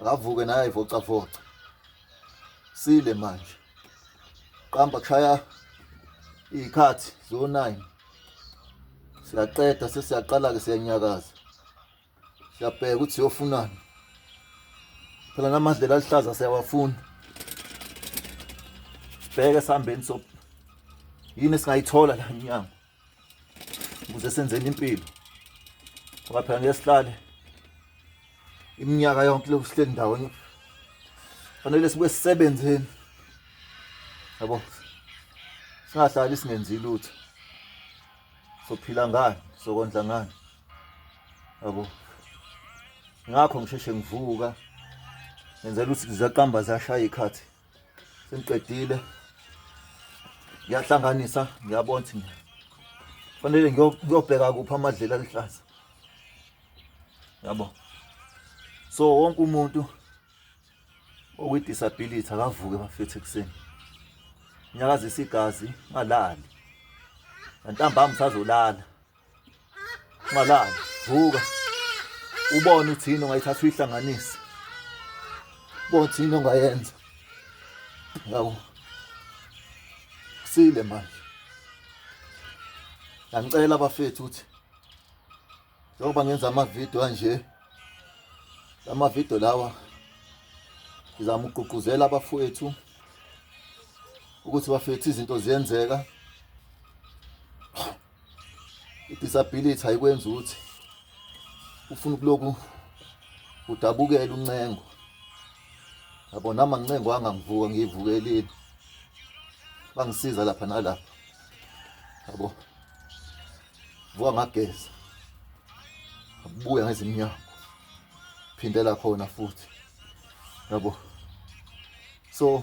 akavuke naye ayivocavoca sile manje qamba kushaya iy'khathi zo-nine siyaqeda sesiyaqala-ke siyanyakaza siyabheka ukuthi siyofunani phela namadlela aluhlaza siyawafuna sibheke esihambeni so yini esingayithola la mnyango ukuze senzeni impilo ngoba phela ngeke sihlale iminyaka yonke lokhu sihleli ndawonye fanele sibe sisebenzeni yabo singahlali singenzi lutho sophila ngani sokondla ngani yabo ngakho ngisheshe ngivuka ngenzela ukuthi zaqamba zashaya ikhathi sengiqedile ngiyahlanganisa ngiyabona ukuthi fanele ngiyobheka kuphi amadlela aluhlaza yabo so wonke umuntu okwi-disability akavuke bafethe ekuseni nyakazisa igazi ngalali ngantambama usazolala Malala, vuka. Ubone uthi yini ongayithatha uyihlanganise. Bothi yini ongayenza. Ngawu. Sile manje. Ngicela abafethu ukuthi njengoba ngenza amavidiyo anje amavidiyo lawa ngizama ukugqugquzela abafowethu ukuthi bafethu izinto ziyenzeka i-disability ayikwenza ukuthi ufuna ukuloku udabukele uncengo yabo nama ncengo angangivuka ngiyivukelile bangisiza lapha nalapha yabo vuka ngageza abuya ngezimnyama phindela khona futhi yabo so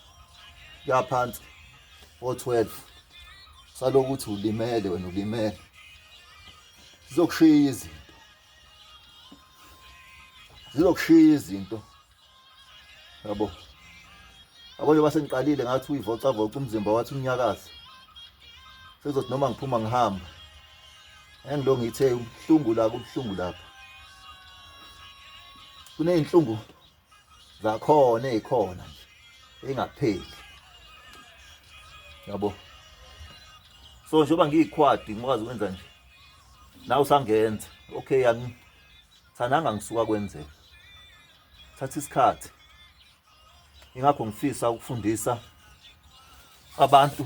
yaphansi o12 salokuthi ulimele wena ulimele zizokushiya izinto zizokushiya izinto yabo yabo njengoba sengiqalile ngathi uyivocavoca umzimba wathi unyakaza sekuzothi noma ngiphuma ngihamba engilo ngithe ubuhlungu la kubuhlungu lapha kuney'nhlungu zakhona ezikhona nje engapheli yabo so njengoba ngiyikhwadi ngikwazi ukwenza nje nawe usangenza okay yami thananga ngisuka kwenzeka thatha isikhathi ingakho ngifisa ukufundisa abantu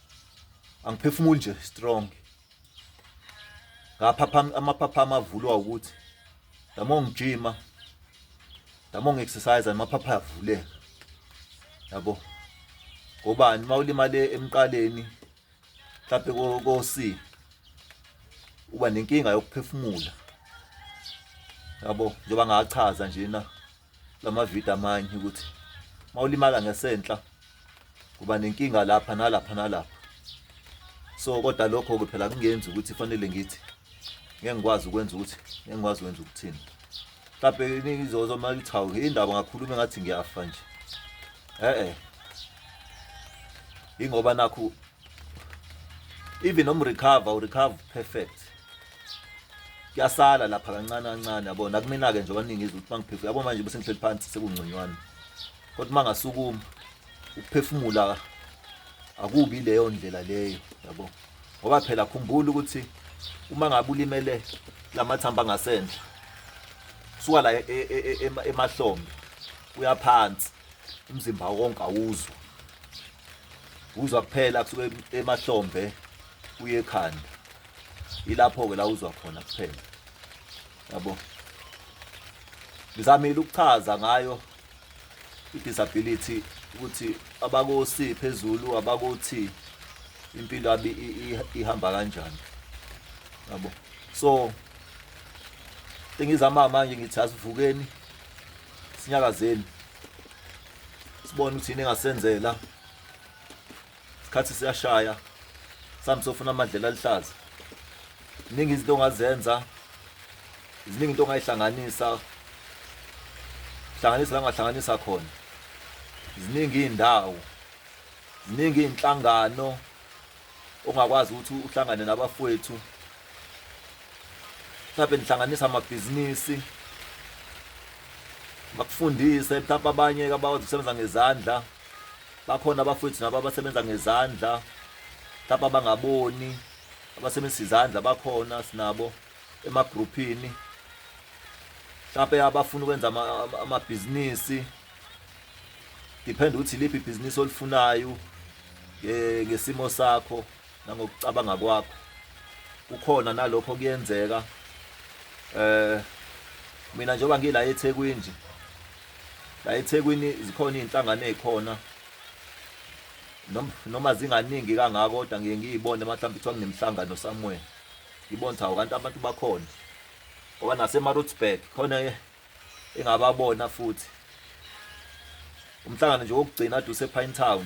angiphefumuli nje strong ngaphapha amaphapha amavulwa ukuthi dama ngijima dama ngiexercise amaphapha avuleka yabo ngobani uma ulimale emqaleni mhlawumbe kosi uba nenkinga yokuphefumula yabo njengoba ngachaza nje na lamavidiyo amanye ukuthi mawulimala ngesenhla kuba nenkinga lapha nalapha nalapha so kodwa lokho ke phela kungenzi ukuthi fanele ngithi ngeke ngikwazi ukwenza ukuthi ngeke ngikwazi ukwenza ukuthini mhlawumbe izozo uma lithi hawu indaba ngakhuluma engathi ngiyafa nje e-e yingoba nakho even noma urecover urecover perfect kuyasala lapha kancane kancane yabo nakumina-ke nje abaningi izwe ukuthi mangiphefumula yabo manje bese ngihleli phansi sekungconywana kodwa uma ngasukuma ukuphefumula akubi leyo ndlela leyo yabo ngoba phela khumbula ukuthi uma ngabe ulimele lamathamba angasendla suka la e, e, e, emahlombe uyaphansi umzimba wonke awuzwa uzwa kuphela kusuke emahlombe kuye ekhanda ilapho-ke la uzwa khona kuphela yabo ngizamile ukuchaza ngayo i-disability ukuthi abakosi phezulu abakothi impilo abi ihamba kanjani yabo so engizama manje ngithi asivukeni sinyakazeni sibone ukuthi yini engasenzela isikhathi siyashaya sami sofuna amadlela aluhlaza ziningi izinto ongazenza ziningi into ongayihlanganisa hlanganisa la ngahlanganisa khona ziningi iy'ndawo ziningi iy'nhlangano ongakwazi ukuthi uhlangane nabafowethu mhlawumbe nihlanganisa amabhizinisi bakufundise mhlawumbe abanye abakwazi ukusebenza ngezandla bakhona abafowethu nabo abasebenza ngezandla mhlawumbe abangaboni abasebenzisa izandla bakhona sinabo emagruphini mhlawumbe abafuna ukwenza amabhizinisi depend ukuthi iliphi ibhizinisi olifunayo ngesimo sakho nangokucabanga kwakho kukhona nalokho kuyenzeka eh mina njengoba ngila eThekwini nje la eThekwini zikhona izinhlangano ezikhona noma zinganingi kangako kodwa ngiye ngiyibone mhlawumbe kuthiwa nginemhlangano somewhere ngibona ukuthi awu kanti abantu bakhona ngoba naseMaritzburg khona engababona futhi umhlangano nje wokugcina ade usepine town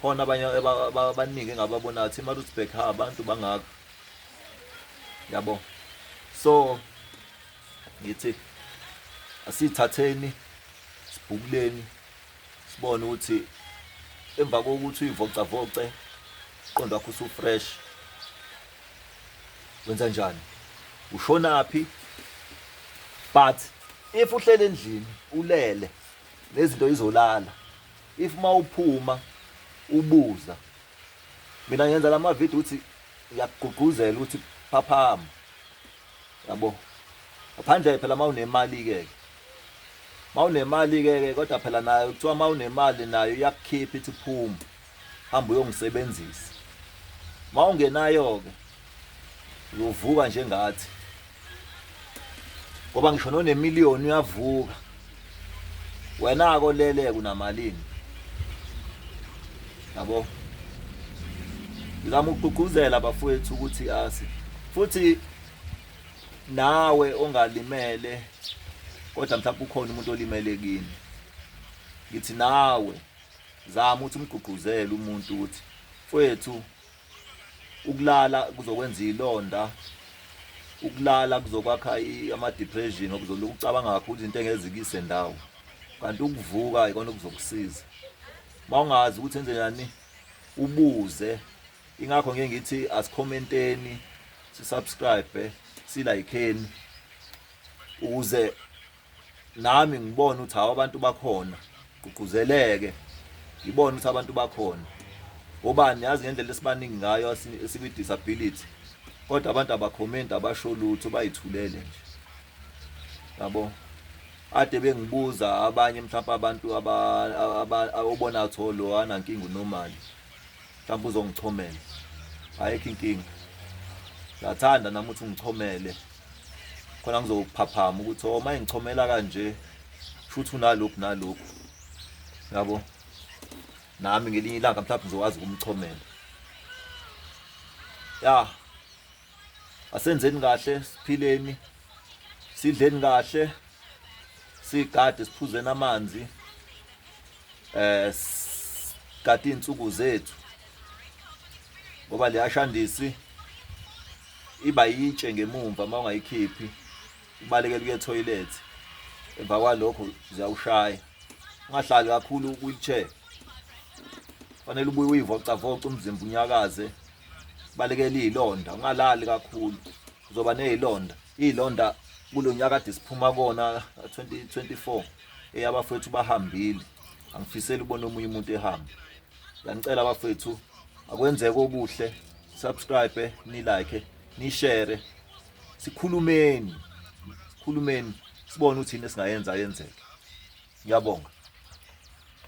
khona abanye abaningi engababonayo thi maritsburg ha abantu bangaka yabo so ngithi asithatheni sibhukuleni sibone ukuthi emva kokuthi uyivocavoce uqondo wakho usufresh wenza njani ushonaphi but if uhlele endlini ulele nezinto izolala if uma uphuma ubuza mina ngenza la mavidiyo ukuthi ngiyakugqugquzela ukuthi phaphama yabo ngaphandle phela uma unemali-ke uma unemali-ke kodwa phela nayo kuthiwa uma unemali nayo iyakukhipha ithi phuma hamba uyongisebenzisa mawungenayo-ke uyovuka njengathi ngoba ngisho nonemiliyoni uyavuka wena-ke oleleke unamalini yabo ngizama ukugqugquzela abafowethu ukuthi asi futhi nawe ongalimele kodwa mhlawumbe ukhona umuntu olimele kini ngithi nawe Zama ukuthi umgqugquzele umuntu ukuthi mfwethu ukulala kuzokwenza ilonda ukulala kuzokwakha ama-depression okuzolokhu ucabanga kakhulu izinto engezikise ndawo kanti ukuvuka ikona okuzokusiza uma ungazi ukuthi enze njani ubuze ingakho ngeke ngithi asikhomenteni sisubscribe silayikheni ukuze nami ngibona ukuthi hawu abantu bakhona gqugquzeleke ngibona ukuthi abantu bakhona obani yazi ngendlela esibaningi ngayo esikwi-disability kodwa abantu abakhomenti abasho lutho bayithulele nje yabo ade bengibuza abanye mhlawumbe abantu obona tho lo anankinga unomali mhlawumbe uzongichomela ayikho inkinga ngiyathanda nami ukuthi ungichomele khona ngizokuphaphama ukuthi o oh, uma engichomela kanje futhi unalokhu nalokhu yabo nami ngelinye ilanga mhlawumbe ngizokwazi ukumchomela ya asenzeni kahle siphileni sidleni kahle sigade siphuzeni amanzi eh kade insuku zethu ngoba leyashandisi iba yitshe ngemumva uma ungayikhiphi ubalekela ukuye toilet emva kwalokho ziyawushaya ungahlali kakhulu wheelchair fanele ubuye uyivocavoca umzimba unyakaze balekela izilonda ungalali kakhulu uzoba nezilonda izilonda kulonyaka kade siphuma kona 2024 eyabafethu bahambile angifiseli ubona omunye umuntu ehamba ngiyanicela abafethu akwenzeke okuhle subscribe ni like ni share sikhulumeni sikhulumeni sibone ukuthi yini esingayenza yenzeke ngiyabonga